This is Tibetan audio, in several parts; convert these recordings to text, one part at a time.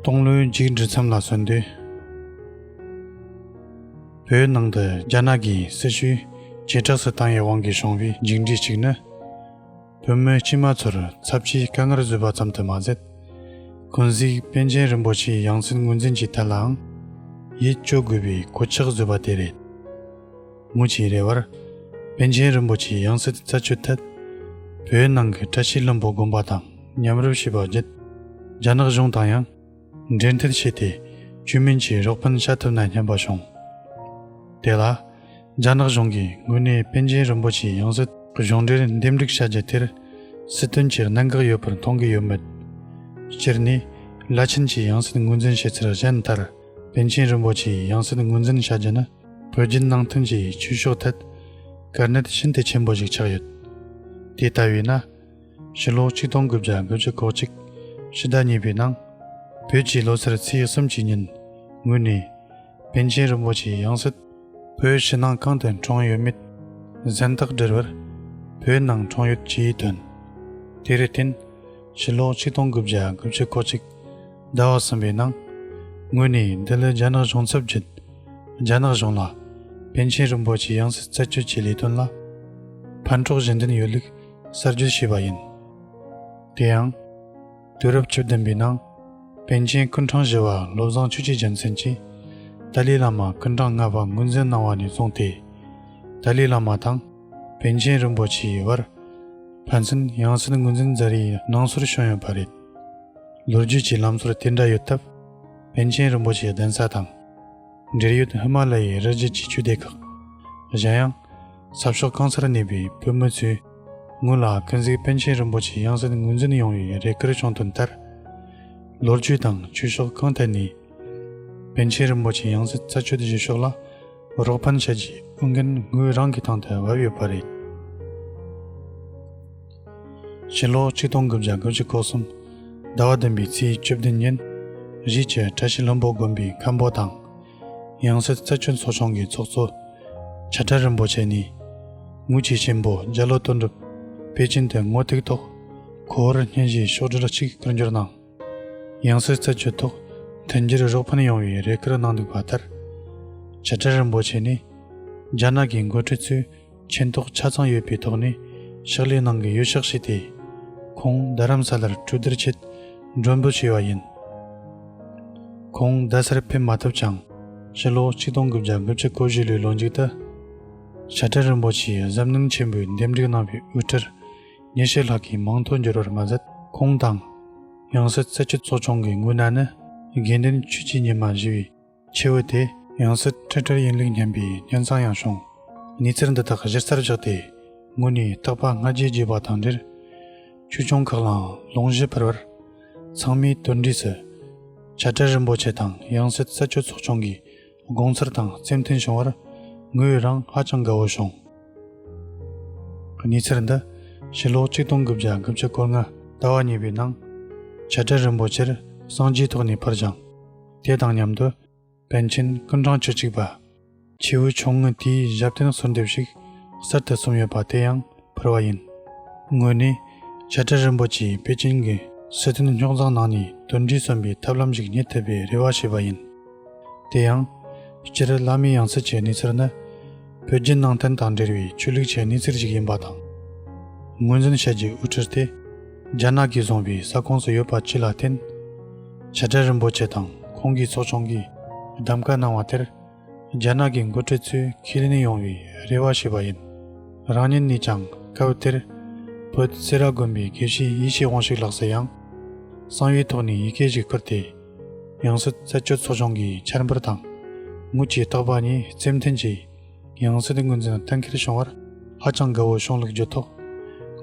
སྟོང་ལོའི་འཇིགས་འགྲིལ་མཚམས་ལ་སོན་དུས། བོད་ནང་དུ་རྒྱ་ནག་གི་སྲི་ཞུའི་བྱེ་བྲག་སུ་བཏང་ཡའི་དབང་གིས་བྱུང་བའི་འཇིགས་འགྲིལ་ཞིག་ནི། བོད་མི་སྤྱི་མ་ཚོར་ཚབས་ཆེའི་དཀའ་ངལ་བཟོས་པ་ཙམ་དུ་མ་ཟད། ཀུན་གཟིགས་པཎ་ཆེན་རིན་པོ་ཆེའི་ཡང་སྲིད་ངོས་འཛིན་གྱི་ཐད་ལའང་ཡིད་སྐྱོ་དགོས་པའི་གོད་ཆག་བཟོས་པ་དེ་རེད། མུ་ཆེའི་རེ་བར། པཎ་ཆེན་རིན་པོ་ཆེའི་ཡང་སྲིད་རྩད་གཅོད་ཐད། བོད་ནང་གི་བཀྲ་ཤིས་ལྷུན་པོ་དགོན་པ་དང། ཉམས་རོལ་བྱེད་པ་བརྒྱུད་རྒྱ་ནག་གཞུང་དང་ཡང་འབྲེལ་མཐུད་བྱས་ཏེ་ཆོས་མིན་གྱི་རོགས་ཕན་བྱ་ཐུབ་ན་སྙམ་པ་བྱུང། དེ་ལ་རྒྱ་ནག་གཞུང་གིས་དངོས་གནས་པཎ་ཆེན་རིན་པོ་ཆེའི་ཡང་སྲིད་གི་གཞུང་འབྲེལ་འདེམས་སྒྲིག་བྱ་རྒྱུ་དེར་སྲིད་དོན་གྱི་གནད་འགག་ཡོད་པར་མཐོང་གི་ཡོད་མོད། སྤྱིར་ནི་བླ་ཆེན་གྱི་ཡང་སྲིད་ངོས་འཛིན་བྱེད་ཚུལ་གཞན་ལྟར་པཎ་ཆེན་རིན་པོ་ཆེའི་ཡང་སྲིད་ངོས་འཛིན་བྱ་རྒྱུ་ནི་བོད་བརྒྱུད་ནང་བསྟན་གྱི་ཆོས་ཕྱོགས་ཐད་དཀའ་གནད་ཤིན་ཏུ་ཆེན་པོ་ཞིག་ཆགས་ཡོད། དེ་ལྟ་བས་ན། ཕྱི་ལོ་ཆིག་སྟོང་དགུ་བརྒྱ་དགུ་བཅུ་གོ་གཅིག་ཕྱི་ཟླ་གཉིས་པའི་ནང། བོད་ཀྱི་ལོ་སར་ཚེས་གསུམ་གྱི་ཉིན་ངོས་ནས། པཎ་ཆེན་རིན་པོ་ཆེའི་ཡང་སྲིད། བོད་ཕྱི་ནང་གང་དུ་གྲོངས་ཡོད་མེད་གཟེངས་རྟགས་འབྲེལ་བར། བོད་ནང་གྲོངས་ཡོད་ཅེས་བཏོན། དེར་བརྟེན། ཕྱི་ལོ་ཆིག་སྟོང་དགུ་བརྒྱ་དགུ་བཅུ་གོ་གཅིག་ཟླ་བ་གསུམ་པའི་ནང། ངོས་ནས་འདི་ལོའི་རྒྱ་ནག་གཞུང་ཚབ་བརྒྱུད། རྒྱ་ནག་གཞུང་ལ། པཎ་ཆེན་རིན་པོ་ཆེའི་ཡང་སྲིད་རྩད་གཅོད་ཀྱི་ལས་དོན་ལ། ཕན་གྲོགས་གཞན་དོན་ཡོད་ལུགས། གསར་བརྗེ་བྱས་པ་ཡིན། དེ་ཡང། དུས་རབས་བཅུ་བདུན་པའི་ནང། པཎ་ཆེན་ཀུན་འཕྲང་བཞི་བ་བློ་བཟང་ཆོས་རྗེ་རྒྱལ་མཚན་གྱིས། ཏཱ་ལའི་བླ་མ་ཀུན་འཕྲང་ལྔ་པ་ངོས་འཛིན་གནང་བ་ནས་བཟུང་སྟེ། ཏཱ་ལའི་བླ་མ་དང་པཎ་ཆེན་རིན་པོ་ཆེའི་དབར། ཕན་ཚུན་ཡང་སྲིད་ངོས་འཛིན་རྫ་རིའི་ནང་སོར་བྱུང་ཡོད་པ་རེད། ལོ་རྒྱུས་ཀྱི་ལམ་སྲོལ་དེ་འདྲ་ཡོད་སྟབས། པཎ་ཆེན་རིན་པོ་ཆེའི་གདན་ས་དང། འབྲེལ་ཡོད་ཧི་མ་ལ་ཡའི་རི་རྒྱུད་ཀྱི་ཆོས་སྡེ་ཁག། གཞན་ཡང། ཟབ་ཤོག་རྐང་ཚར་གནས་པའི་བོད་མི་ཚོས་ངོས་ལ་ཀུན་གཟིགས་པཎ་ཆེན་རིན་པོ་ཆེ་ཡང་སྲིད་ངོས་འཛིན་ཡོང་བའི་རེ་སྐུལ་བྱུང་དོན་ལྟར། ལོ་རྒྱུས་དང་ཆོས་ཕྱོགས་གང་ཐད་ནས་པཎ་ཆེན་རིན་པོ་ཆེ་ཡང་སྲིད་རྩད་གཅོད་བྱེད་ཕྱོགས་ལ་རོགས་ཕན་བྱ་རྒྱུའི་ཨུ་འགན་ངོས་རང་གི་ཐང་དུ་བབས་ཡོད་པ་རེད། ཕྱི་ལོ་ཆིག་སྟོང་དགུ་བརྒྱ་དགུ་བཅུ་གོ་གསུམ་ཟླ་བ་བདུན་པའི་ཚེས་བཅུ་བདུན་ཉིན་གཞིས་བྱེས་བཀྲ་ཤིས་ལྷུན་པོ་དགོན་པའི་མཁན་པོ་དང་ཡང་སྲིད་རྩེ་ཆུ་མཚོ་བྱང་གི་ཚོགས་གཙོ་བྱ་བྲལ་རིན་པོ་ཆེ་ནི། ངུ་བྱེད་ཆེན་པོ་རྒྱ་ལོ་དོན་གྲུབ་པེ་ཅིན་དུ་ངོ་ཐུག་ཐོག་གོ་བོར་བརྙན་བཞེས་ཤོག་སྒྲིལ་གཅིག་བསྐུར་འགྱུར་གནང། ཡང་སྲིད་རྩེ་ཆུ་ཐོག་དོན་གྱི་རུ་རོགས་ཕུན་ཡོང་བའི་རེ་སྐུལ་གནང་འདུག་པ་ལྟར། བྱ་བྲལ་རིན་པོ་ཆེ་ནི། རྒྱ་ནག་གི་མགོ་ཁྲིད་ཚོས། མཁྱེན་རྟོགས་ཆ་ཚང་ཡོད་པའི་ཐོག་ནས་ཕྱག་ལས་གནང་གི་ཡོད་ཤག་བྱས་ཏེ། ཁོང་རྡ་རམ་ས་ལར་གྲོས་བསྡུར་ཆེད་མགྲོན་འབོད་བྱས་པ་ཡིན། ཁོང་རྡ་སར་ཕེབས་མ་ཐུབ་ཀྱང། ཕྱི་ལོ་གཅིག་སྟོང་དགུ་བརྒྱ་དགུ་བཅུ་གོ་བཞི་ལོའི་ལོ་མཇུག་ཏུ། བྱ་བྲལ་རིན་པོ་ཆེའི་གཟབ་ནན་ཆེན་པོས་འདེམས་སྒྲིག་གནང་བའི་དབུ་ཁྲིར་ཉེར་ཤས་ལྷག་གིས་མང་ཐོག་འགྱུར་བར་མ་ཟད། ཁོང་དང། ཡང་སྲིད་རྩེ་ཆུ་ཚོགས་ཆུང་གི་འགོས་ནད་ནི་དགེ་འདུན་ཆོས་སྐྱིད་ཉི་མ་བཞི་བའི། ཆེ་བོ་དེ། ཡང་སྲིད་ཁྲི་བྲལ་ཡིན་ལུགས་སྙམ་པའི་ཉོན་ཚང་ཡང་བྱུང། གནས་ཚུལ་འདི་དག་གཞིར་རྩར་བཞག་སྟེ། ངོས་ནས་རྟག་པ་སྔ་རྗེས་བརྗོད་པ་དང་འབྲེལ། ཆོས་སྐྱོང་ཁག་ལའང་ལུང་བཞི་ཕུལ་བར། ཚང་མས་དོལ་འདྲིས་སུ། བྱ་བྲལ་རིན་པོ་ཆེ་དང་ཡང་སྲིད་རྩད་གཅོད་ཚོགས་ཆུང་གི་དགོངས་ཚུལ་དང་རྩེ་མཐུན་བྱུང་བར། ངོས་རང་ཧ་ཅང་དགའ་བོ་བྱུང། གནས་ཚུལ་འདི། ཕྱི་ལོ་ཆིག་སྟོང་དགུ་བརྒྱ་དགུ་བཅུ་སྐོར་ལྔ། ཟླ་བ་གཉིས་པའི་ནང། བྱ་བྲལ་རིན་པོ་ཆེར་སངས་རྒྱས་ཐོག་ནས་ཕུལ་ཞིང། དེ་དང་མཉམ་དུ། པཎ་ཆེན་ཀུན་བཟང་བཅུ་གཅིག་པ། ཆེའུ་ཆུང་ངུ་དེའི་ཞབས་བརྟན་གསོལ་འདེབས་ཤིག་གསར་དུ་གསུམ་ཡོད་པ་དེ་ཡང་ཕུལ་བ་ཡིན། དངོས་ནས། བྱ་བྲལ་རིན་པོ་ཆེའི་པེ་ཅིན་གྱི་སི་ཐན་རྙོག་འཛིང་ནང་ནས་དོན་འགྲུས་གསོན་པའི་ཐབས་ལམ་ཞིག་རྙེད་ཐུབ་པའི་རེ་བ་བྱས་པ་ཡིན། དེ་ཡང། སྤྱིར་བླ་མའི་ཡང་སྲིད་ཀྱི་གནས་ཚུལ་ནི། བོད་བརྒྱུད་ནང་བསྟན་དང་འབྲེལ་བའི་ཆོས་ལུགས་ཆེས་གནས་ཚུལ་ཞིག་ཡིན་པ་དང། ངོས་འཛིན་བྱ་རྒྱུའི་དབུ་ཁྲིད་དེ་རྒྱ་ནག་གིས་བཟུང་བའི་ས་ཁོངས་སུ་ཡོད་པ་བཅས་ལ་བརྟེན། བྱ་བྲལ་རིན་པོ་ཆེ་དང་ཁོང་གི་ཚོགས་ཆུང་གིས་གདམ་ག་གནང་བ་དེར་རྒྱ་ནག་གི་འགོ་ཁྲིད་ཚོས་ཁས་ལེན་ཡོང་བའི་རེ་བ་བྱས་པ་ཡིན། རང་ཉིད་ནས་ཀྱང་སྐབས་དེར་བོད་སེ་ར་དགོན་པའི་དགེ་བཤེས་ཡེ་ཤེས་དབང་ཕྱུག་ལགས་སུ་ཡང་གསང་བའི་ཐོག་ནས་ཡི་གེ་ཞིག་ཕུལ་ཏེ། ཡང་སྲིད་རྩད་གཅོད་ཚོགས་ཆུང་གིས་འཆར་འབུལ་དང་དངུལ་གྱི་རྟག་པ་གཉིས་རྩིས་མཐུན་གྱིས་ཡང་སྲིད་དངུལ་འཛིན་གཏན་འཁེལ་བྱུང་བར་ཧ་ཅང་དགའ་བོའི་གཞུང་ལུགས་བརྒྱུད་ཐོག་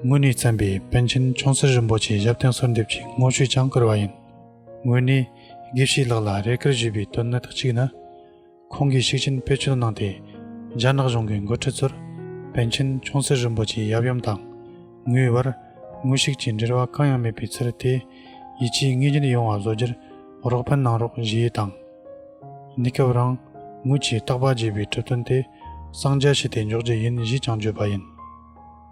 དངོས་གནས་བཙན་པའི་པཎ་ཆེན་ཆུང་སྲིད་རིན་པོ་ཆེའི་ཞབས་བརྟན་གསོལ་འདེབས་ཀྱི་དངོས་བཤུས་ཀྱང་བསྐུར་བ་ཡིན། དངོས་གནས་དགེ་བཤེས་ལགས་ལ་རེ་བསྐུལ་ཞུས་པའི་དོན་དག་ཅིག་ནི། ཁོང་གིས་ཤུགས་ཆེན་བེད་སྤྱོད་གནང་སྟེ། རྒྱ་ནག་གཞུང་གི་འགོ་ཁྲིད་ཚོར་པཎ་ཆེན་ཆུང་སྲིད་རིན་པོ་ཆེའི་ཡབ་ཡུམ་དང་ངོས་བར་ངོ་ཤེས་ཀྱི་འབྲེལ་བ་གང་ཡང་མེད་པའི་ཕྱིར་དེ་ཡིད་ཆེས་ངེས་ཅན་ཡོང་བ་བཟོ་རྒྱུར་རོགས་ཕན་གནང་རོགས་ཞུ་ཡི་དང། གནས་སྐབས་རང་ངོས་ཀྱིས་རྟག་པར་བརྗེད་པའི་གྲུབ་དོན་དེ་གསང་རྒྱ་བྱས་ཏེ་འཇོག་རྒྱུ་ཡིན་ཞེས་ཀྱང་བརྗོད་པ་ཡིན།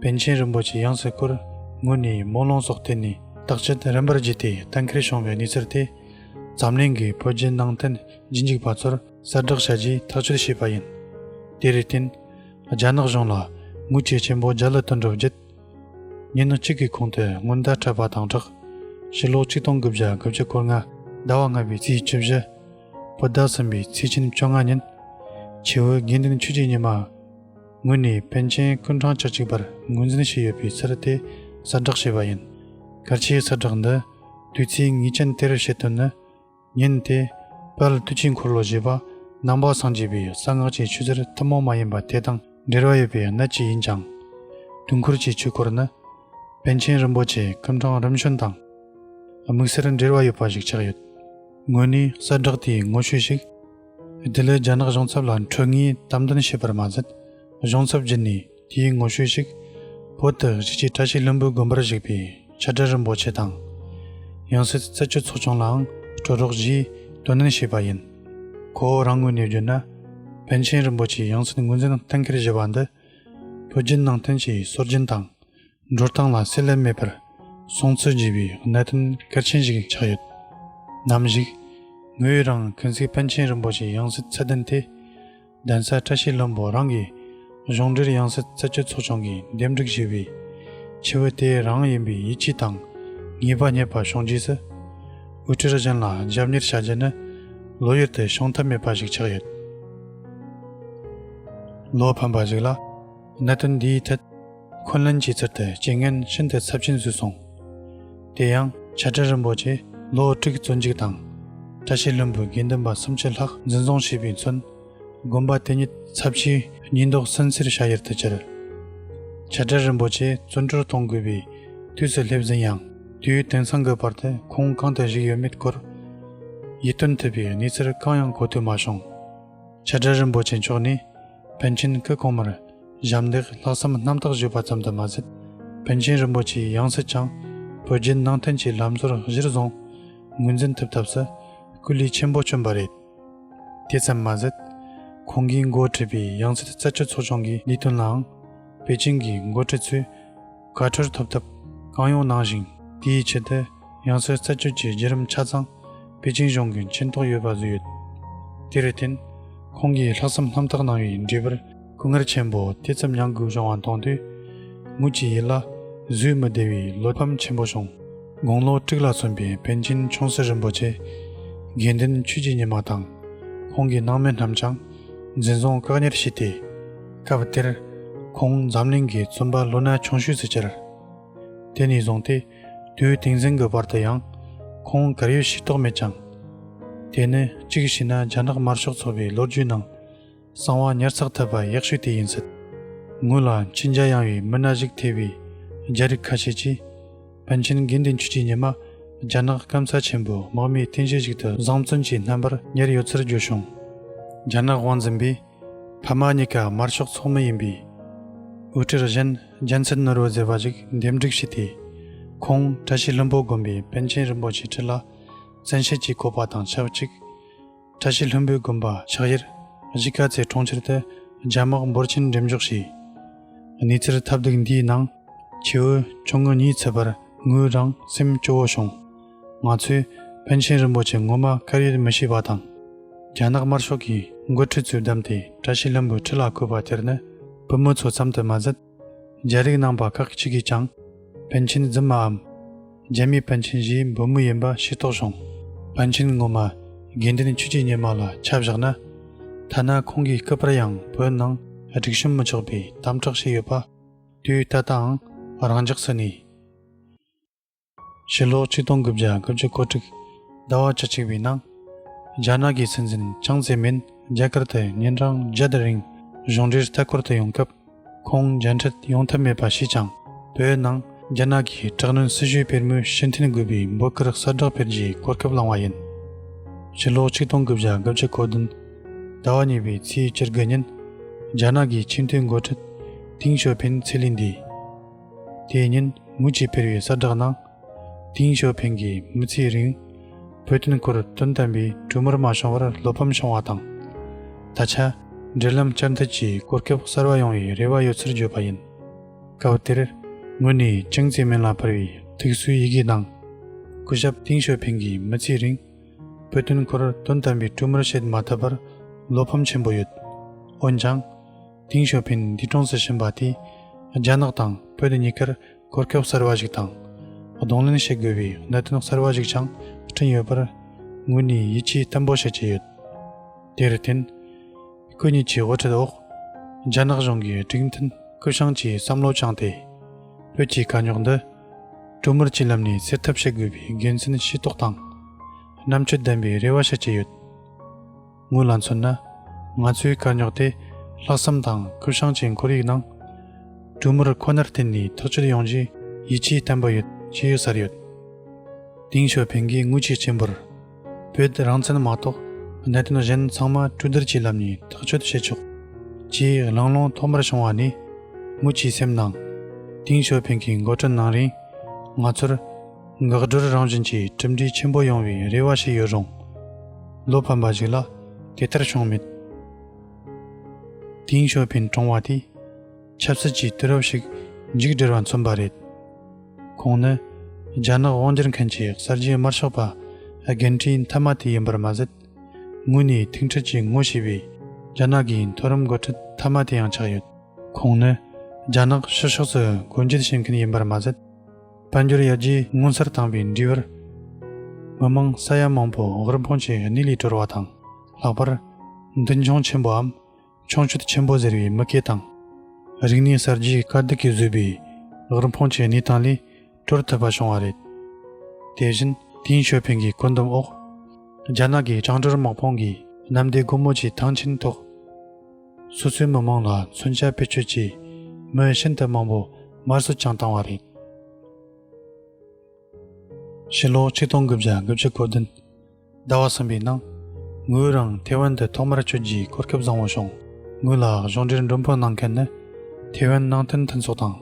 པཎ་ཆེན་རིན་པོ་ཆེ་ཡང་སྲིད་སྐུར་ངོས་ནས་དམུ་ལོང་སོགས་བསྟེན་ནས་བདག་ཅག་རིམ་པར་བརྗེས་ཏེ་གཏན་འཁེལ་བྱུང་བའི་གནས་ཚུལ་དེ་འཛམ་གླིང་གི་བོད་བརྒྱུད་ནང་བསྟན་རྗེས་འཇུག་པ་ཚོར་གསལ་བསྒྲགས་བྱ་རྒྱུའི་ཐག་གཅོད་བྱས་པ་ཡིན། དེར་བརྟེན། རྒྱ་ནག་གཞུང་ལ་མུ་ཁྱུད་ཆེན་པོ་རྒྱ་ལ་བཏོན་གྲབས་བརྒྱུད། ཉིན་གཅིག་གི་གོང་དུ་སྔོན་བརྡ་འཕྲད་པ་དང་སྦྲགས། ཕྱི་ལོ་ཆིག་སྟོང་དགུ་བརྒྱ་དགུ་བཅུ་སྐོར་ལྔ། ཟླ་བ་ལྔ་པའི་ཚེས་བཅུ་བཞི། བོད་ཟླ་གསུམ་པའི་ཚེས་ཆེན་བཅོ་ལྔ་ཉིན། ཆེ་བོད་དགེ་འདུན་ཆོས་རྗེ་ཉི་མ། ངོས་ནས་པཎ་ཆེན་སྐུ་འཕྲང་བཅུ་གཅིག་པར་ངོས་འཛིན་བྱས་ཡོད་པའི་ཚུལ་དེ་གསལ་བསྒྲགས་བྱས་པ་ཡིན། གལ་ཆེའི་གསལ་བསྒྲགས་འདི་དུས་ཚིགས་ངེས་ཅན་དེར་བྱེད་དོན་ནི། ཉིན་དེ་དཔལ་དུས་ཀྱི་འཁོར་ལོ་བཞི་པ་ནང་པ་སངས་རྒྱས་པའི་གསང་སྔགས་ཀྱི་ཆུ་གཟེར་ཐུན་མོང་མ་ཡིན་པ་དེ་དང་འབྲེལ་བ་ཡོད་པའི་གནད་ཀྱིས་ཡིན་ཅིང། དུས་འཁོར་གྱི་ཆོས་སྐོར་ནི་པཎ་ཆེན་རིན་པོ་ཆེའི་སྐུ་འཕྲང་རིམ་བྱོན་དང་དམིགས་བསལ་འབྲེལ་བ་ཡོད་པ་ཞིག་ཆགས་ཡོད། ངོས་ནས་གསལ་བསྒྲགས་དེའི་ངོ་བཤུས་ཤིག། དེ་ལས་རྒྱ་ནག་གཞུང་ཚབ་ལ་འཕྲོད་ངེས་དམ་འདོན་བྱས་པར་མ་ཟད་གཞུང་ཚབ་བརྒྱུད་ནས་དེའི་ངོ་བཤུས་ཤིག་བོད་དུ་གཞིས་བྱེས་བཀྲ་ཤིས་ལྷུན་པོའི་དགོན་པར་གཞིགས་པའི་ཕྱག་སྦྲེལ་རིན་པོ་ཆེ་དང། ཡང་སྲིད་རྩད་གཅོད་ཚོགས་ཆུང་ལའང་སྤྲོད་རོགས་ཞེས་དོ་ནན་བྱས་པ་ཡིན། ཁོ་བོ་རང་ངོས་ནས་བརྗོད་ན་པཎ་ཆེན་རིན་པོ་ཆེའི་ཡང་སྲིད་ངོས་འཛིན་གཏན་འཁེལ་བཞེས་པ་འདི་བོད་བརྒྱུད་ནང་བསྟན་གྱི་སྲོལ་རྒྱུན་དང་འགྲོ་སྟངས་ལ་གསལ་ལེར་མེད་པར་སོང་ཚུལ་བརྗོད་པའི་གནད་དོན་གལ་ཆེན་ཞིག་ཆགས་ཡོད། ནམ་ཞིག་ངོས་རང་གུན་གསེང་པཎ་ཆེན་རིན་པོ་ཆེའི་ཡང་སྲིད་རྩལ་འདོན་ཐད། གདན་ས་བཀྲ་ཤིས་བློན་པོ་རང་གི་གཞུང་འབྲེལ་ཡང་སྲིད་རྩད་གཅོད་ཚོགས་ཆུང་གིས་འདེམས་སྒྲུག་བྱས་པའི་ཆེ་བོ་དེ་རང་ཡིན་པའི་ཡིད་ཆེས་དང་ངེས་པ་རྙེད་པ་བྱུང་རྗེས་སུ། དབུ་ཁྲིད་གཞན་ལ་རྒྱབ་གཉེར་བྱ་རྒྱུ་ནི་ལོ་ཡུལ་དུ་བྱུང་ཐབས་མེད་པ་ཞིག་ཆགས་ཡོད། ལོ་ཕན་པ་ཞིག་ལ། གནད་དོན་འདིའི་ཐད་འཁོན་ལན་གྱིས་ཚུར་དུ་རྐྱེན་ངན་ཤིན་ཏུ་ཚབས་ཆེན་བཟོས་སོང། དེ་ཡང་བྱ་བྲལ་རིན་པོ་ཆེས་ལོ་དྲུག་བཙོན་འཇུག་དང། བཀྲ་ཤིས་བློན་པོས་དགེ་འདུན་པ་སུམ་ཅུ་ལྷག་འཛིན་བཟུང་བྱས་པའི་མཚོན། དགོན་པ་དེ་ཉིད་ཚབས་ཆེའི་ཉེས་འདོགས་སུན་གཙེར་བྱ་ཡུལ་དུ་གྱུར། བྱ་བྲལ་རིན་པོ་ཆེ་བཙོན་གྲོལ་གཏོང་དགོས་པའི་དུས་སུ་སླེབས་ཟིན་ཡང། དུས་དེང་སང་གི་བར་དུ་ཁོང་གང་དུ་བཞུགས་ཡོད་མེད་སྐོར་ཡིད་རྟོན་ཐུབ་པའི་གནས་ཚུལ་གང་ཡང་གོ་ཐོས་མ་བྱུང། བྱ་བྲལ་རིན་པོ་ཆེ་མཆོག་ནི་བོན་ཆེན་སྐུ་གོང་མར་ཞབས་འདེགས་ལྷག་བསམ་རྣམ་དག་ཞུས་པ་ཙམ་དུ་མ་ཟད་བོན་ཆེན་རིན་པོ་ཆེའི་ཡང་སྲིད་ཀྱང་བོད་རྒྱལ་ནང་བསྟན་གྱི་ལམ་སྲོལ་གཞིར་བཟུང་ངོས་འཛིན་ཐུབ་ཐབས་སུ་སྐུ་ལུས་ཆེན་པོ་བསྐྱོན་པ་རེད། དེ་ཙམ་མ་ཟད་ཁོང་གིས་འགོ་ཁྲིད་པའི་ཡང་སྲིད་རྩད་གཅོད་ཚོགས་ཆུང་གི་ལས་དོན་ལའང་པེ་ཅིང་གི་འགོ་ཁྲིད་ཚོས་བཀའ་འཁྲོལ་ཐོབ་ཐབས་གང་ཡོང་གནང་ཞིང་དེའི་ཆེད་དུ་ཡང་སྲོལ་རྩད་གཅོད་ཀྱི་བརྒྱུད་རིམ་ཆ་ཚང་པེ་ཅིང་གཞུང་གི་མཁྱེན་རྟོགས་ཡོད་པ་བཟོས་ཡོད། དེར་བརྟེན། ཁོང་གིས་ལྷག་བསམ་ལྷམ་ཐག་གནང་བའི་འབྲས་བུར་སྐུ་ངལ་ཆེན་པོ་དེ་ཙམ་མྱངས་དགོས་བྱུང་བ་མཐོང་དུས། ངུ་ཅི་ཡི་ལ་བཟོད་མི་བདེ་བའི་བློ་ཕམ་ཆེན་པོ་བྱུང། དགུང་ལོ་དྲུག་ལ་སོན་པའི་པན་ཆེན་ཆུང་སྲིད་རིན་པོ་ཆེ། དགེ་འདུན་ཆོས་ཀྱི་ཉི་མ་དང་ཁོང་གི་སྣང་མེད་རྣམས་ཀྱང། འཛིན་བཟུང་བཀག་ཉར་བྱས་ཏེ། སྐབས་དེར་ཁོང་འཛམ་གླིང་གི་རྩོམ་པ་ལོ་ན་ཆུང་ཤོས་སུ་གྱར། དེ་ནས་བཟུང་སྟེ་དུས་དེང་གཟེངས་ཀྱི་བར་དུ་ཡང་ཁོང་གར་ཡོད་ཤེས་རྟོགས་མེད་ཀྱང། དེ་ནི་གཅིག་བྱས་ན་རྒྱ་ནག་དམར་ཤོག་ཚོགས་པའི་ལོ་རྒྱུས་ནང་གསང་བ་ཉར་ཚགས་ཐུབ་པ་ཡག་ཤོས་དེ་ཡིན་སྲིད། ངོས་ལ་མཁྱེན་རྒྱ་ཡངས་བའི་མི་སྣ་ཞིག་ཐེ་བའི་རྒྱ་རིགས་ཁ་ཤས་ཀྱིས། པཎ་ཆེན་དགེ་འདུན་ཆོས་ཀྱི་ཉི་མ། རྒྱ་ནག་སྐམ་ས་ཆེན་པོའི་དམག་མིའི་རྟེན་གཞི་ཞིག་ཏུ་བཟང་བཙོན་གྱིས་རྣམ་པར་གཉེར་ཡོད་ཚུལ་བརྗོད་བྱུང། རྒྱ་ནག་དབང་འཛིན་པས་ཕ་མ་གཉིས་ཀ་དམར་ཤོག་ཚོགས་མི་ཡིན་པས། དབུ་ཁྲིད་གཞན་རྒྱལ་མཚན་ནོར་བུ་ཟེར་བ་ཞིག་འདེམས་སྒྲིག་བྱས་ཏེ། ཁོང་བཀྲ་ཤིས་ལྷུན་པོ་དགོན་པའི་པཎ་ཆེན་རིན་པོ་ཆེ་ཁྲི་ལ་བཙན་ཤེད་ཀྱིས་བསྐོས་པ་དང་ཆབས་ཅིག། བཀྲ་ཤིས་ལྷུན་པོའི་དགོན་པ་ཕྱག་གཡེར་གཞིས་ཀ་རྩེའི་གྲོང་ཁྱེར་དུ་རྒྱ་དམག་འབོར་ཆེན་འགྲེམས་འཇོག་བྱས། གནས་ཚུལ་ཐབས་སྡུག་འདིའི་ནང་ཁྱེའུ་ཆུང་ངུ་གཉིས་ཚུད་པར་ངོས་རང་སེམས་སྐྱོ་བོ་བྱུང། ང་ཚོས་པཎ་ཆེན་རིན་པོ་ཆེ་ངོ་མ་དཀར་ཡོལ་མི་ཤེས་པ་དང། རྒྱ་ནག་དམར་ཤོག་གིས་མགོ་ཁྲིད་ཚོས་བདམས་ཏེ་བཀྲ་ཤིས་ལྷུན་པོའི་ཁྲི་ལ་བསྐོས་པ་དེར་ནི་བུ་མོ་ཚོ་ཙམ་དུ་མ་ཟད། རྒྱལ་རིགས་ནང་པ་ཁག་ཅིག་གིས་ཀྱང་པཎ་ཆེན་རྫུན་མའམ། རྒྱལ་མི་པཎ་ཆེན་བཞིའི་འབུམ་མོ་ཡིན་པ་ཤེས་རྟོགས་བྱུང། པཎ་ཆེན་ངོ་མ་དགེ་འདུན་ཆོས་རྗེ་སྙེ་མ་ལ་ཆ་བཞག་ན། ཐ་ན་ཁོང་གི་སྐུ་པར་ཡང་བོད་ནང་སྒྲིག་གཤོམ་མི་ཆོག་པའི་དམ་དྲག་བྱས་ཡོད་པ། དུས་ད་ལྟའང་རང་འཇགས་སུ་གནས། ཕྱི་ལོ་ཆིག་སྟོང་དགུ་བརྒྱ་དགུ་བཅུ་གོ་དྲུག་ཟླ་བ་བཅུ་གཅིག་པའི་ནང། རྒྱ་ནག་གི་སྲིད་འཛིན་ཅང་ཙེ་མིན་རྒྱ་གར་དུ་ཉིན་གྲངས་བརྒྱད་དེ་རིང་གཞུང་འབྲེལ་ལྟ་སྐོར་དུ་ཡོང་སྐབས། ཁོང་མཇལ་འཕྲད་ཡོང་ཐབས་མེད་པ་ཞིག་ཀྱང་བོད་ནང་རྒྱ་ནག་གི་དྲག་གནོན་སྲིད་ཇུས་དཔེར་མོས་ཕྱི་འཐེན་དགོས་པའི་འབོད་སྐུལ་གསལ་བསྒྲགས་སྤེལ་རྒྱའི་གོ་སྐབས་བླངས་བ་ཡིན། ཕྱི་ལོ་ཆིག་སྟོང་དགུ་བརྒྱ་དགུ་བཅུ་གོ་བདུན་ཟླ་བ་གཉིས་པའི་ཚེས་བཅུ་དགུ་ཉིན། རྒྱ་ནག་གི་ཆེས་མཐོའི་མགོ་ཁྲིད་ཏིང་ཞོ་ཕིན་ཚེ་ལས་འདས། དེའི་ཉིན་དངུལ་ཆད་ཕེར་བའི་གསར་བསྒྲགས་ནང། ཏིང་ཞོ་ཕེང་གིས་མི་ཚེའི་རིང། བོད་དོན་སྐོར་དོན་དམ་པའི་གྲོས་མོལ་མ་བྱུང་བར་བློ་ཕམ་བྱུང་བ་དང། ད་ཆ་འབྲེལ་ལམ་བསྐྱར་མཐུད་ཀྱིས་གོ་སྐབས་གསར་བ་ཡོང་བའི་རེ་བ་ཡོད་ཚུལ་བརྗོད་པ་ཡིན། སྐབས་དེར་ངོས་ནས་ཅུང་ཟད་མིང་ལ་འཕུར་བའི་ཐུགས་གསོའི་ཡི་གེ་ནང། སྐུ་ཞབས་ཏིང་ཞོ་ཕེང་གིས་མི་ཚེའི་རིང། བོད་དོན་སྐོར་དོན་དམ་པའི་གྲོས་མོལ་བྱེད་མ་ཐུབ་པར་བློ་ཕམ་ཆེན་པོ་ཡོད། འོན་ཀྱང། ཏིང་ཞོ་ཕིན་འདི་གྲོངས་སུ་ཕྱིན་པ་དེས་རྒྱ་ནག་དང་བོད་གཉིས་ཀར་གོ་སྐབས་གསར་བ་ཞིག་དང། གདོང་ལེན་བྱེད་དགོས་པའི་གནད་དོན་གསར་བ་ཞིག་ཀྱང་བསྐྲུན་ཡོད་པར་ངོས་ནས་ཡིད་ཆེས་བརྟན་པོ་བྱེད་ཀྱི་ཡོད། དེར་བརྟེན། སྐུ་ཉིད་ཀྱི་དབུ་ཁྲིད་འོག་རྒྱ་ནག་གཞུང་གི་སྒྲིག་མཐུན་སྐུ་ཞིང་གི་བསམ་བློ་བཅངས་ཏེ། བོད་ཀྱི་དཀའ་རྙོག་འདི་གྲོས་མོལ་གྱི་ལམ་ནས་སེལ་ཐབས་བྱེད་དགོས་པའི་དགེ་མཚན་ཤེས་རྟོགས་དང། རྣམ་དཔྱོད་ལྡན་པའི་རེ་བ་བྱེད་ཀྱི་ཡོད། དངོས་ལ་མཚོན་ན། ང་ཚོའི་དཀའ་རྙོག་དེ་ལྷག་བསམ་དང་ཀུ་ཤང་གྱི་འཁོར་ཡིག་ནང། གྲུ་མུར་ཁོ་ནར་བརྟེན་ནས་ཐག་གཅོད་ཡོང་རྒྱུའི་ཡིད་ཆེས་བརྟན་པོ་ཡོད་ཅེས་ཡོད་སར་ཡོད། ཏིང་ཞོ་ཕེང་གིས་དངུལ་ཆད་ཆེན་པོར་བོད་རང་བཙན་མ་གཏོགས་གནད་དོན་གཞན་ཚང་མ་གྲོས་བསྡུར་གྱི་ལམ་ནས་ཐག་གཅོད་བྱེད་ཆོག་ཅེས་གླེང་སློང་ཐོག་མར་བྱུང་བ་ནི། དངུལ་གྱི་སེམས་ནང། ཏིང་ཞོ་ཕེང་གི་མགོ་སྤྲོད་གནང་རིང་ང་ཚོར། འགག་སྒྲོལ་རང་བཞིན་གྱི་གྲུབ་འབྲས་ཆེན་པོ་ཡོང་བའི་རེ་བ་ཞིག་ཡོད་རུང། བློ་ཕམ་པ་ཞིག་ལ་དེ་ལྟར་བྱུང་མེད། དེང་ཞོ་ཕིན་ཀྲུང་བ་དེས་ཆབ་སྲིད་ཀྱི་དུས་རབས་ཤིག་མཇུག་སྒྲིལ་བ་མཚོན་པ་རེད། ཁོང་ནི་རྒྱ་ནག་དབང་སྒྱུར་མཁན་གྱི་གསར་བརྗེའི་དམར་ཤོག་པ་རྒན་གྲས་མཐའ་མ་དེ་ཡིན་པར་མ་ཟད། དངོས་གནས་ཐུག་འཕྲད་ཀྱི་ངོ་ཤེས་པའི་རྒྱ་ནག་གི་མཐོ་རིམ་འགོ་ཁྲིད་མཐའ་མ་དེ་ཡང་ཆགས་ཡོད། ཁོང་ནི་རྒྱ་ནག་ཕྱི་ཕྱོགས་སུ་སྒོ་འབྱེད་བྱེད་མཁན་ཡིན་པར་མ་ཟད། དཔལ་འབྱོར་ཡར་རྒྱས་མངོན་གསལ་བཏང་བའི་འབྲས་བུར། མི་དམངས་ས་ཡ་མང་པོ་བག་རུམ་འཕོངས་ཆེ་གནས་ལས་གྲོལ་བ་དང། ལྷག་པར། མདུན་མཆོང་ཆེན་པོའམ། མཆོང་སྐྱོད་ཆེན་པོ་ཟེར་བའི་མི་སྐད་དང། རིག་གནས་གསར་བརྗེའི་དཀའ་སྡུག་གིས་བཟོས་པའི་བག་རུམ་འཕོངས་ཆེ་གནས་སྟངས་ལས་གྲོལ་ཐུབ་པ་བྱུང་བ་རེད། དེ་བཞིན། དེང་ཞོ་ཕེང་གི་བཀོད་འདོམས་འོག། རྒྱ་ནག་གི་བྱང་བསྒྲུར་དམག་དཔུང་གིས་གནམ་བདེ་སྒོ་མོ་ཆེའི་ཐང་ཆེན་ཐོག། སོ་སོའི་མི་མང་ལ་མཚོན་ཆ་བེད་སྤྱོད་ཀྱིས་མི་ཤིན་ཏུ་མང་པོ་མར་སུ་བཅང་བཏང་བ་རེད། ཕྱི་ལོ་ཆིག་སྟོང་དགུ་བརྒྱ་དགུ་བཅུ་གོ་བདུན་ཟླ་བ་གསུམ་པའི་ནང་ངོས་རང་ཐེ་ཝན་དུ་ཐོག་མར་ཆོས་བརྒྱུད་གོ་སྐབས་བཟང་བོ་བྱུང། ངོས་ལ་གཞུང་འབྲེལ་མགྲོན་འབོད་གནང་མཁན་ནི་ཐེ་ཝན་ནང་བསྟན་མཐུན་ཚོགས་དང་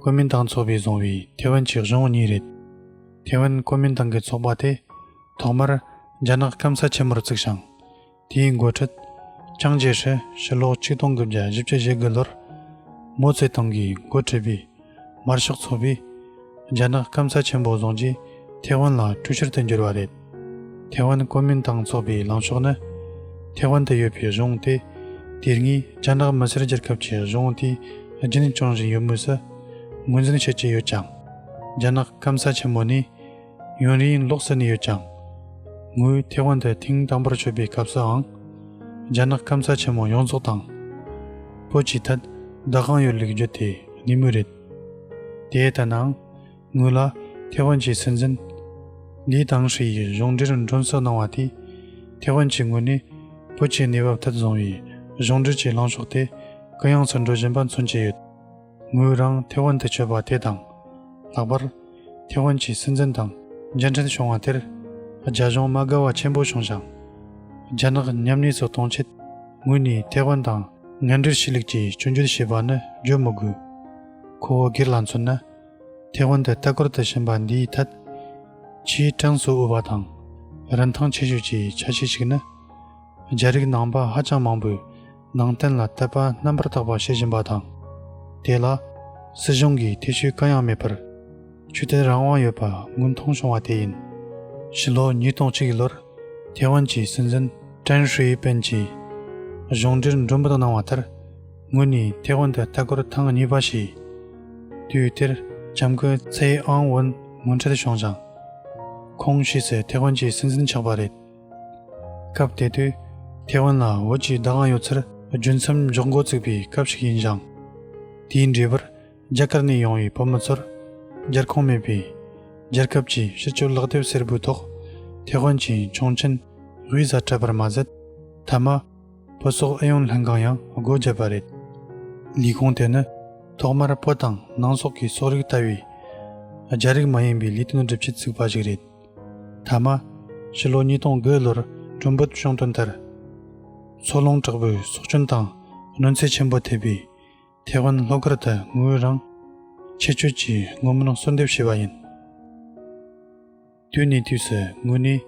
ཀོ་མིན་ཏང་ཚོགས་པས་བཟུང་བའི་ཐེ་ཝན་གྱི་གཞུང་གཉིས་རེད། ཐེ་ཝན་ཀོ་མིན་ཏང་གི་ཚོགས་པ་དེ་ཐོག་མར་རྒྱ་ནག་སྐམ་ས་ཆེན་མོར་བཙུགས་ཤིང། དེའི་མགོ་ཁྲིད། ཅང་ཅེ་ཧྲི་ཕྱིར་ལོག་གཅིག་སྟོང་དགུ་བརྒྱ་བཞི་བཅུ་བཞི་དགུ་ལོར། མོ་ཙེ་ཏུང་གིས་མགོ་ཁྲིད་པའི་དམར་ཤོག་ཚོགས་པས། རྒྱ་ནག་སྐམ་ས་ཆེན་པོ་བཟུང་རྗེས་ཐེ་ཝན་ལ་དཀྲུག་ཤར་དུ་འགྱུར་བ་རེད། ཐེ་ཝན་གོ་མིན་ཏང་ཚོགས་པའི་ལངས་ཕྱོགས་ནི། ཐེ་ཝན་དུ་ཡོད་པའི་གཞུང་སྟེ། དེ་སྔའི་རྒྱ་ནག་མི་སེར་སྒྱུར་སྐབས་ཀྱི་གཞུང་དེ་རྒྱུན་བསྐྱངས་བཞིན་ཡོད་མུས་སུ་ངོས་འཛིན་བྱེད་ཀྱི་ཡོད་ཀྱང། རྒྱ་ནག་སྐམ་ས་ཆེན་མོ་ནས། ཡུན་རིང་ལོག་ས་ནས་ཡོད་ཀྱང། ངོས་ཐེ་ཝན་དུ་ཐེངས་དང་པོར་ཆོད་པའི་སྐབས་སུའང། རྒྱ་ནག་སྐམ་ས་ཆེན་མོ་ཡོངས་རྫོགས་དང་པོ་བྱས་ཐད་བདག་གང་ཡོད་ལེགས་རྒྱུ་དེ་ནི་མོས་རེད། དེ་ལྟ་ནའང། ངོས་ལ་ཐེ་ཝན་གྱི་སྲིད་འཛིན། ལི་ཐང་ཧྲི་ཡིས་གཞུང་འབྲེལ་མགྲོན་བསུ་གནང་བ་དེས། ཐེ་ཝན་གྱི་ངོས་ནས་བོད་ཀྱི་གནས་བབ་ཐད་བཟུང་བའི་གཞུང་འབྲེལ་གྱི་ལངས་ཕྱོགས་དེ་གུ་ཡངས་སུ་འགྲོ་བཞིན་པ་མཚོན་གྱི་ཡོད། ངོས་རང་ཐེ་ཝན་དུ་བྱོལ་བ་དེ་དང། ལྷག་པར། ཐེ་ཝན་གྱི་སྲིད་འཛིན་དང་མཇལ་འཕྲད་བྱུང་བ་དེར། རྒྱ་གཞུང་མ་དགའ་བ་ཆེན་པོ་བྱུང་ཞིང། རྒྱ་ནག་མཉམ་གནས་སུ་གཏོང་ཆེད་ངོས་ནས་ཐེ་ཝན་དང་ངན་འབྲེལ་ཕྱི་ལུགས་ཀྱིས་བཅོས་འགྱུར་བྱས་པ་ནི་བརྗོད་མི་དགོས། ཁོ་བོ་སྒེར་ལ་མཚོན་ན། ཐེ་ཝན་དུ་ལྟ་སྐོར་དུ་ཕྱིན་པ་འདིའི་ཐད། ཆེས་གྲངས་སུ་དབུལ་བ་དང་རིན་ཐང་ཆེ་ཤོས་ཀྱི་ཆ་ཤས་ཤིག་ནི། རྒྱ་རིགས་ནང་པ་ཧ་ཅང་མང་པོས། ནང་བསྟན་ལ་དད་པ་རྣམ་པར་དག་པ་བྱེད་བཞིན་པ་དང། དེ་ལ། སྲིད་གཞུང་གིས་ཐེ་བྱུས་གང་ཡང་མེད་པར། ཆོས་དད་རང་དབང་ཡོད་པ་དངོས་མཐོང་བྱུང་བ་དེ་ཡིན། ཕྱི་ལོ་ཉིས་སྟོང་གཅིག་གི་ལོར་ཐེ་ཝན་གྱི་སྲིད་འཛིན་ཀྲན་ཧྲུའེ་པེན་གྱིས་གཞུང་འབྲེལ་མགྲོན་འབོད་གནང་བ་ལྟར། ངོས་ནས་ཐེ་ཝན་དུ་ལྟ་སྐོར་ཐེངས་གཉིས་པ་བྱས། དུས་དེར་ལྕམ་སྐུ་ཚའེ་ཨང་ཝུན་ངོ་འཕྲད་བྱུང་ཞིང། ཁོང་ཕྱི་ཚེས་ཐེ་ཝན་གྱི་སྲིད་འཛིན་ཆགས་པ་རེད། སྐབས་དེ་དུས་ཐེ་ཝན་ལ་བོད་ཀྱི་བདག་དབང་ཡོད་ཚུལ་རྒྱུ་མཚམས་འཇོག་འགོ་བཙུགས་པའི་སྐབས་ཤིག་ཡིན་ཞིང། དེའི་འབྲས་བུར་རྒྱ་གར་ནས་ཡོང་བའི་བོད་མི་ཚོར་རྒྱལ་ཁོངས་མེད་པས། རྒྱལ་ཁབ་ཀྱི་ཕྱི་སྤྱོད་ལག་དེབ་སེར་པོའི་ཐོག་ཐེ་ཝན་གྱི་ཆུང་ཆེན་དབུས་ས་སྤྲད་པར་མ་ཟད། མཐའ་མ། བོད་སོག་ཨུ་ཡོན་ལྷན་ཁང་ཡང་སྒོ་བརྒྱབ་པ་རེད། ལས་ཁུངས་དེ་ནི་ཐོག་མར་བོད་དང་ནང་སོག་གི་སོག་རིགས་ལྟ་བུའི་རྒྱ་རིགས་མ་ཡིན་པའི་ལས་དོན་སྒྲུབ་ཆེད་བཙུགས་པ་ཞིག་རེད། ཐ་མ། ཕྱི་ལོ་ཉིས་སྟོང་དགུ་ལོར་གྲུམ་བུ་གཤོང་སྟོན་དར་མཚོ་ལུང་དྲག་པོའི་སྲོག་སྐྱོན་དང་གནོད་འཚེ་ཆེན་པོ་ཐེབས་པའི་ཐའེ་ཝན་ལྷོ་ཁར་དེ་སྔོན་རང་ཆེ་བསྐྱོད་ཀྱིས་དངུལ་མང་གསོལ་འདེབས་བྱས་པ་ཡིན། དུས་ནས་དུས་སུ་ངོས་ནས་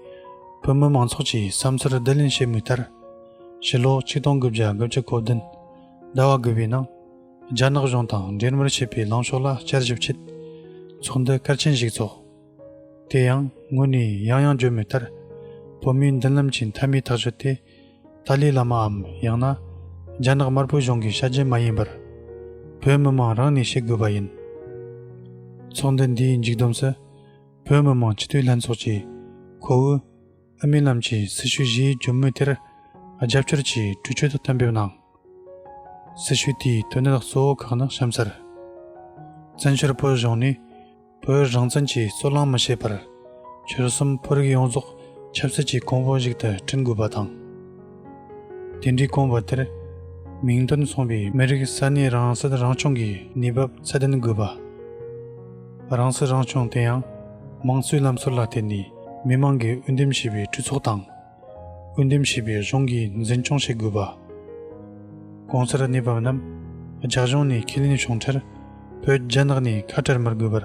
བོད་མི་མང་ཚོགས་ཀྱི་བསམ་ཚུལ་བསྡུ་ལེན་བྱེད་མུས་ལྟར། ཕྱི་ལོ་ཆིག་སྟོང་དགུ་བརྒྱ་དགུ་བཅུ་གོ་བདུན་ཟླ་བ་དགུ་པའི་ནང་རྒྱ་ནག་གཞུང་དང་འབྲེལ་མོལ་བྱེད་པའི་ལངས་ཕྱོགས་ལ་བསྐྱར་ཞིབ་ཆེད་ཚོགས་འདུ་སྐར་ཆེན་ཞིག་ཚོགས། དེ་ཡང་སྔོན་ནས་ཡང་ཡང་བརྗོད་མེད་ལྟར། བོད་མིའི་མདུན་ལམ་གྱི་མཐའ་མའི་ཐག་གཅོད་དེ། ཏཱ་ལའི་བླ་མའམ་ཡང་ན། རྒྱ་ནག་དམར་པོའི་གཞུང་གི་ཤ་རྒྱན་མ་ཡིན་པར། བོད་མི་མང་རང་ནས་བྱེད་དགོས་པ་ཡིན། ཚོགས་འདུ་འདིའི་མཇུག་བསྡོམས་སུ། བོད་མི་མང་སྤྱི་འཐུས་ལྷན་ཚོགས་ཀྱིས། ཁོ་ཝུའུ་སྨི་ལམ་གྱི་སྲི་ཞུ་བཞིའི་འབྱུང་མོས་དེར། རྒྱབ་སྐྱོར་གྱིས་གྲོས་ཆོད་དུ་གཏན་འབེབས་གནང། སྲི་ཞུ་དེའི་དོན་གནད་གཙོ་བོ་ཁག་ནི་གཤམ་གསལ། བཙན་བྱོལ་བོད་གཞུང་ནི། བོད་རང་བཙན་གྱི་རྩོད་གླེང་མི་བྱེད་པར། ཆོལ་གསུམ་བོད་རིགས་ཡོངས་རྫོགས་ཆབ་སྲིད་ཀྱི་གོང་བུ་ཞིག་ཏུ་བསྐྲུན་དགོས་པ་དང། དེ་འདྲའི་གོམ་བགྲོད་དེར་མིང་དོན་མཚུངས་པའི་མི་རིགས་ས་གནས་རང་སྲིད་རང་སྐྱོང་གི་གནས་བབ་ཚད་ལྡན་དགོས་པ། རང་སྲིད་རང་སྐྱོང་དེ་ཡང་དམངས་གཙོའི་ལམ་སྲོལ་ལ་བརྟེན་ནས་མི་མང་གིས་འོས་འདེམས་བྱས་པའི་གྲོས་ཚོགས་དང། འོས་འདེམས་བྱས་པའི་གཞུང་གིས་འཛིན་སྐྱོང་བྱེད་དགོས་པ། གོང་གསལ་གནས་བབ་རྣམས་རྒྱ་གཞུང་ནས་ཁས་ལེན་བྱུང་མཐར་བོད་རྒྱ་ནག་ནས་ཁ་བྲལ་མི་དགོས་པར་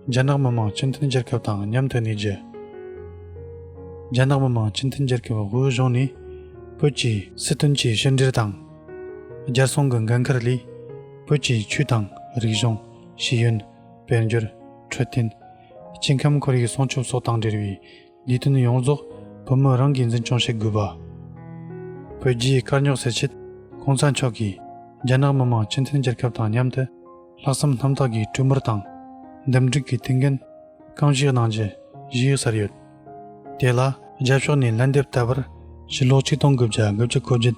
རྒྱ་ནག་མི་དམངས་སྤྱི་མཐུན་རྒྱལ་ཁབ་དང་མཉམ་དུ་གནས་རྒྱུ། རྒྱ་ནག་མི་དམངས་སྤྱི་མཐུན་རྒྱལ་ཁབ་དབུས་གཞུང་ནས་བོད་ཀྱི་སྲིད་དོན་གྱི་ཕྱི་འབྲེལ་དང་རྒྱལ་སྲུང་གི་འགན་འཁུར་ལས་བོད་ཀྱི་ཆོས་དང་རིག་གཞུང་ཤེས་ཡོན་དཔལ་འབྱོར་འཕྲོད་བསྟེན་སྐྱེ་ཁམས་ཁོར་ཡུག་སྲུང་སྐྱོབ་སོགས་དང་འབྲེལ་བའི་ལས་དོན་ཡོངས་རྫོགས་བུ་མོ་རང་གིས་འཛིན་སྐྱོང་བྱེད་དགོས་པ། བོད་རྒྱའི་དཀའ་རྙོག་སེལ་ཆེད ྋགོང་ས་མཆོག་གིས་རྒྱ་ནག་མི་མང་སྤྱི་མཐུན་རྒྱལ་ཁབ་དང་མཉམ་དུ་ལྷག་བསམ་རྣམ་དག་གིས་གྲོས་འབོར་དང་འདུམ་འགྲིག་གི་མཐུན་རྐྱེན་རྐང་བཞེས་གནང་རྒྱུ་གཞི་ཡོད་ཟེར་ཡོད། དེ་ལ་རྒྱ་ཕྱོགས་ནས་ལན་འདེབས་ལྟ་བུར་ཕྱིར་སློག་ཆིག་སྟོང་དགུ་བརྒྱ་དགུ་བཅུ་གོ་བརྒྱད།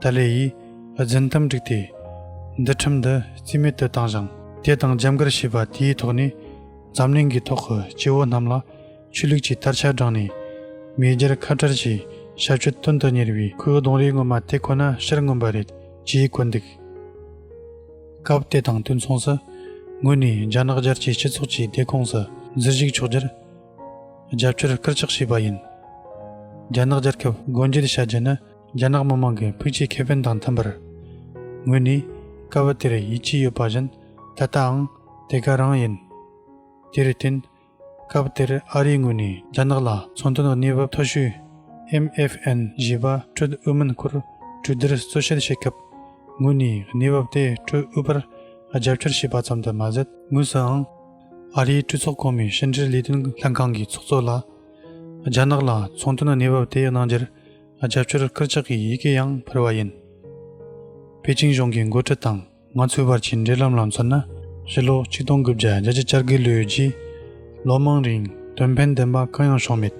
ཏཱ་ལའི་ཡིས་རྫུན་གཏམ་བསྒྲིགས་ཏེ། འདི་ཁྲིམས་འདི་རྩིས་མེད་དུ་བཏང་ཞིང། དེ་དང་རྒྱབ་འགལ་བྱས་པ་དེའི་ཐོག་ནས་འཛམ་གླིང་གི་ཐོག་གི་སྐྱེ་བོ་རྣམས་ལ་ཆོས་ལུགས་ཀྱི་དར་ཆ་བསྒྲེངས་ནས། མེས་རྒྱལ་ཁ་བྲལ་གྱི་ཞབས་ཞུ་སྟོན་དུ་གཉེར་བའི་ཁོའི་གདོང་རིས་ངོ་མ་དེ་ཁོ་ན་ཕྱིར་མངོན་པ་རེད་ཅེས་བཀོད་འདུག་སྐབས་དེ་དང་དུས་མཚུངས་སུ། ངོས་ནས་རྒྱ་ནག་རྒྱལ་སྤྱིའི་སྤྱི་ཚོགས་ཀྱི་སྡེ་ཁོངས་སུ་འཛུལ་ཞུགས་ཕྱོགས་བསྒྱུར་རྒྱབ་སྐྱོར་སྐུལ་ལྕག་བྱས་པ་ཡིན། རྒྱ་ནག་རྒྱལ་ཁབ་སྒོ་འབྱེད་བྱ་རྒྱུ་ནི་རྒྱ་ནག་མི་དམངས་ཀྱི་ཕུགས་ཀྱི་ཁེ་ཕན་དང་མཐུན་པར། ངོས་ནས་སྐབས་བབ་དེར་ཡིད་ཆེས་ཡོད་པ་བཞིན་ད་ལྟའང་དེ་ག་རང་ཡིན། དེར་བརྟེན། སྐབས་བབ་དེར་ཨ་རིའི་ངོས་ནས་རྒྱ་ནག་ལ་ཚོང་དོན་གནས་བབ་མཐོ་ཤོས། MFN། བཞེས་པ་སྤྲོད་དབུས་མིན་སྐོར་གྲོས་བསྡུར་གཙོ་བཤད་བྱེད་སྐབས། ངོས་ནས་གནས་བབ་དེ་སྤྲོད་དབུས་པར་རྒྱབ་སྐྱོར་བྱས་པ་ཙམ་དུ་མ་ཟད། དངོས་སུའང། ཨ་རིའི་གྲོས་ཚོགས་གོང་མའི་ཕྱི་འབྲེལ་ལས་དོན་ལྷན་ཁང་གི་ཚོགས་གཙོ་ལ། རྒྱ་ནག་ལ་ཚོང་དོན་གནས་བབ་དེ་གནང་རྒྱུར་རྒྱབ་སྐྱོར་སྐུལ་ལྕག་གི་ཡི་གེ་ཡང་ཕུལ་བ་ཡིན། པེ་ཅིང་གཞུང་གི་འགོ་ཁྲིད་དང་ང་ཚོའི་བར་གྱི་འབྲེལ་ལམ་ལ་མཚོན་ན་ཕྱི་ལོ་ཆིག་སྟོང་དགུ་བརྒྱ་རྒྱ་ཆིག་བཅར་དགུའི་ལོའི་རྗེས་ལོ་མང་རིང་དོན་ཕན་ལྡན་པ་གང་ཡང་བྱུང་མེད།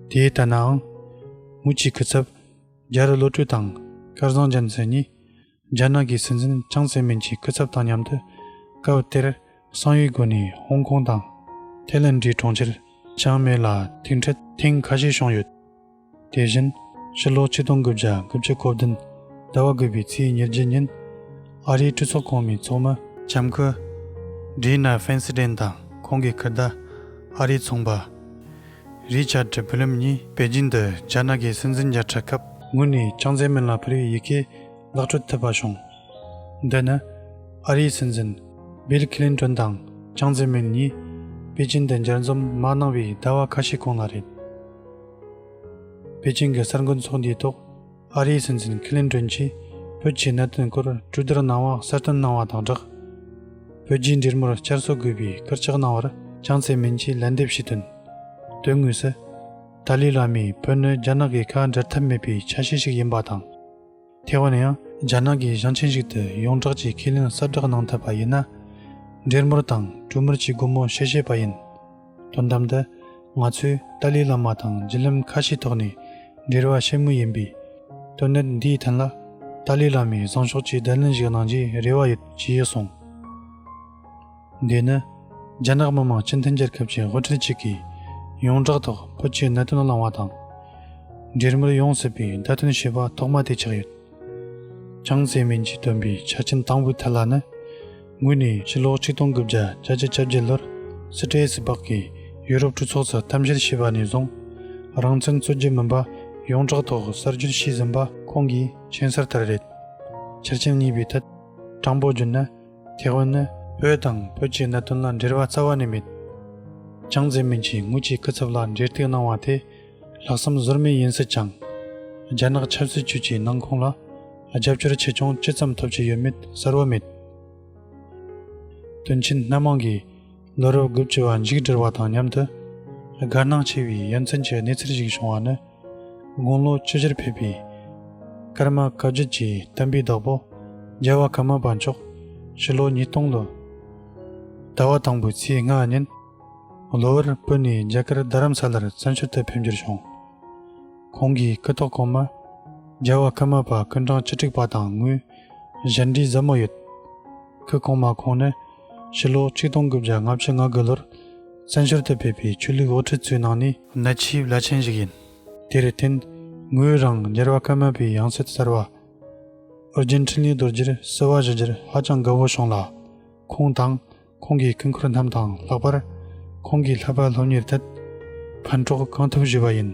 དེའི་ལྟར་ནའང། དབུས་ཀྱི་སྐུ་ཚབ་རྒྱ་རུ་བློ་གྲོས་དང་སྐལ་བཟང་རྒྱལ་མཚན་གཉིས་རྒྱ་ནག་གི་སྲིད་འཛིན་ཅང་ཙེ་མིན་གྱི་སྐུ་ཚབ་དང་མཉམ་དུ་སྐབས་དེར་གསང་ཡིག་སྒོ་ནས་ཧོང་ཀོང་དང་ཐེ་ལན་གྲིའི་གྲོང་ཁྱེར་ཅང་མེ་ལ་ཐུག་འཕྲད་ཐེངས་ཁ་ཤས་བྱུང་ཡོད། དེ་བཞིན་ཕྱི་ལོ་ཆིག་སྟོང་དགུ་བརྒྱ་དགུ་བཅུ་གོ་བདུན་ཟླ་བ་དགུ་པའི་ཚེས་ཉེར་བརྒྱད་ཉིན་ཨ་རིའི་སྤྲུལ་ཚོགས་གོང་མའི་ཚོགས་མི། ལྕམ་སྐུ། Dianna Feinstein དང་ཁོང་གི་སྐུ་ཟླ། ཨ་རིའི་ཚོང་པ། རི་ཆཱ་ཏྲི་བྷི་ལེམ་གཉིས་པེ་ཅིན་དུ་རྒྱ་ནག་གི་སྲིད་འཛིན་བརྒྱ་ཕྲག་སྐབས། ངོས་ནས་ཅང་ཙེ་མིན་ལ་ཕུ་རིའི་ཡི་གེ་བཀླག་སྤྲོད་ཐུབ་པ་བྱུང། འདི་ནི། ཨ་རིའི་སྲིད་འཛིན། Bill Clinton། དང་ཅང་ཙེ་མིན་གཉིས། པེ་ཅིན་དུ་འབྱར་འཛོམས་མ་གནང་བའི་ཟླ་བ་ཁ་ཤས་གོང་ལ་རེད། པེ་ཅིན་གྱི་གསར་འགོད་ཚོགས་འདུའི་ཐོག། ཨ་རིའི་སྲིད་འཛིན་ཁི་ལིན་ཀྲོན་གྱིས་བོད་ཀྱི་གནད་དོན་སྐོར་གྲོས་བསྡུར་གནང་བ་གསལ་སྟོན་གནང་བ་དང་སྦྲགས། བོད་རྒྱའི་འབྲེལ་མོལ་བསྐྱར་གསོ་དགོས་པའི་སྐར་ཆག་གནང་བར་ཅང་ཙེ་མིན་གྱིས་ལན་འདེབས་བྱས་དོན། དོན་དངོས་སུ། ཏཱ་ལའི་བླ་མས་བོད་ནི་རྒྱ་ནག་གི་ཁ་འབྲལ་ཐབས་མེད་པའི་ཆ་ཤས་ཤིག་ཡིན་པ་དང། ཐེ་ཝན་ཡང་རྒྱ་ནག་གི་ཞིང་ཆེན་ཞིག་ཏུ་ཡོངས་བསྒྲགས་ཀྱིས་ཁས་ལེན་གསལ་བསྒྲགས་གནང་ཐུབ་པ་ཡིན་ན། འབྲེལ་མོལ་དང་གྲོས་མོལ་གྱི་སྒོ་མོ་ཕྱེ་ཤེས་པ་ཡིན། དོན་དམ་དུ་ང་ཚོས་ཏཱ་ལའི་བླ་མ་དང་བརྒྱུད་ལམ་ཁ་ཤས་ཐོག་ནས་འབྲེལ་བ་ཆེན་མོ་ཡིན་པས། དོན་གནད་འདིའི་ཐད་ལ་ཏཱ་ལའི་བླ་མའི་བཟང་ཕྱོགས་ཀྱི་བསྡད་ལན་ཞིག་གནང་རྒྱུའི་རེ་བ་ཡོད་ཅེས་གསུངས། འདི་ནི་རྒྱ་ནག་མི་དམངས་སྤྱི་མཐུན་རྒྱལ་ཁབ་ཀྱི་དབུ་ཁྲིད་ཅིག་གིས་ཡོངས་བསྒྲགས་ཐོག་བོད་ཀྱི་གནད་དོན་བླངས་བ་དང། འབྲེལ་མོལ་ཡོང་སྲིད་པའི་བརྡ་སྟོན་བྱས་པ་ཐོག་མ་དེ་ཆགས་ཡོད། ཅང་ཙེ་མིན་གྱིས་བཏོན་པའི་ཆ་རྐྱེན་དང་པོའི་ཐད་ལ་ནི། ངོས་ནས་ཕྱི་ལོ་ཆིག་སྟོང་དགུ་བརྒྱ་གྱ་གཅིག་ཆ་བརྒྱད་ལོར་སི་ཏྲེ་ཡེ་སི་པགས་ཀྱིས་ཡུ་རོབ་གྲོས་ཚོགས་སུ་གཏམ་བཤད་བྱས་པ་ནས་བཟུང། རང་བཙན་རྩོད་རྒྱུ་མིན་པ་ཡོངས་གྲགས་ཐོག་གསར་འགྱུར་བྱས་ཟིན་པ། ཁོང་གིས་མཆན་གསར་ལྟར་རེད། ཆ་རྐྱེན་གཉིས་པའི་ཐད་དྲང་པོ་བརྗོད་ན། ཐེ་ཝན་ནི། བོད་དང་བོད་ཀྱི་གནད་དོན་ལ་འབྲེལ་བ་རྩ་བ་ནས་མེད། ཅང་ཙེ་མིན་གྱིས་ངོས་ཀྱི་སྐུ་ཚབ་ལ་འབྲེལ་གཏུག་གནང་བ་དེ་ལྷག་བསམ་བཟོར་མེད་ཡིན་སྲིད་ཀྱང། རྒྱ་ནག་ཆབ་སྲིད་ཅུས་ཀྱི་ནང་ཁོངས་ལ་རྒྱབ་སྐྱོར་ཆེ་ཆུང་ཅི་ཙམ་ཐོབ་ཀྱི་ཡོད་མེད་གསལ་བོ་མེད། དོན་ཆེན་སྣ་མང་གིས་ལོ་རབས་དགུ་བཅུ་བ་མཇུག་སྒྲིལ་བ་དང་མཉམ་དུ། དགའ་སྣང་ཆེ་བའི་ཡ་མཚན་གྱི་གནས་ཚུལ་ཞིག་བྱུང་བ་ནི། དགུང་ལོ་བཅུ་བཞིར་ཕེབས་པའི་ཀརྨ་བཀའ་བརྒྱུད་ཀྱི་བསྟན་པའི་བདག་པོ་རྒྱལ་བ་ཀརྨ་པ་མཆོག་ཕྱི་ལོ་ཉིས་སྟོང་ལོའི་ཟླ་བ་དང་པོའི་ཚེས་ལྔ་ཉིན། ལོ་བར་སྤོས་ནས་རྒྱ་གར་རྡ་རམ་ས་ལར་བཙན་བྱོལ་དུ་ཕེབས་འགྱུར་བྱུང། ཁོང་གིས་སྐུ་ཐོག་གོང་མ་རྒྱལ་བ་ཀརྨ་པ་ཀུན་གྲངས་བཅུ་དྲུག་པ་དང་དངོས་གཞས་འབྲི་ཟབ་མོ་ཡོད། སྐུ་གོང་མ་ཁོང་ནི་ཕྱི་ལོ་གཅིག་སྟོང་དགུ་བརྒྱ་ལྔ་བཅུ་ང་དགུ་ལོར་བཙན་བྱོལ་དུ་ཕེབས་པའི་ཆོས་ལུགས་དབུ་ཁྲིད་ཚོའི་ནང་ནས་གནད་ཆེའི་བླ་ཆེན་ཞིག་ཡིན། དེར་བརྟེན་ངོས་རང་རྒྱལ་བ་ཀརྨ་པའི་ཡང་སྲིད་གསར་བ་ཨོ་རྒྱན་འཕྲིན་ལས་རྡོ་རྗེར་བསུ་བ་ཞུ་རྒྱུར་ཧ་ཅང་དགའ་བོ་བྱུང་ལ། ཁོང་དང་ཁོང་གི་སྐུ་འཁོར་རྣམས་དང་ལྷག་པར་ཁོང་གི་ལྷག་པར་སློབ་གཉེར་ཐད་ཕན་གྲོགས་གང་ཐུབ་ཞུས་པ་ཡིན།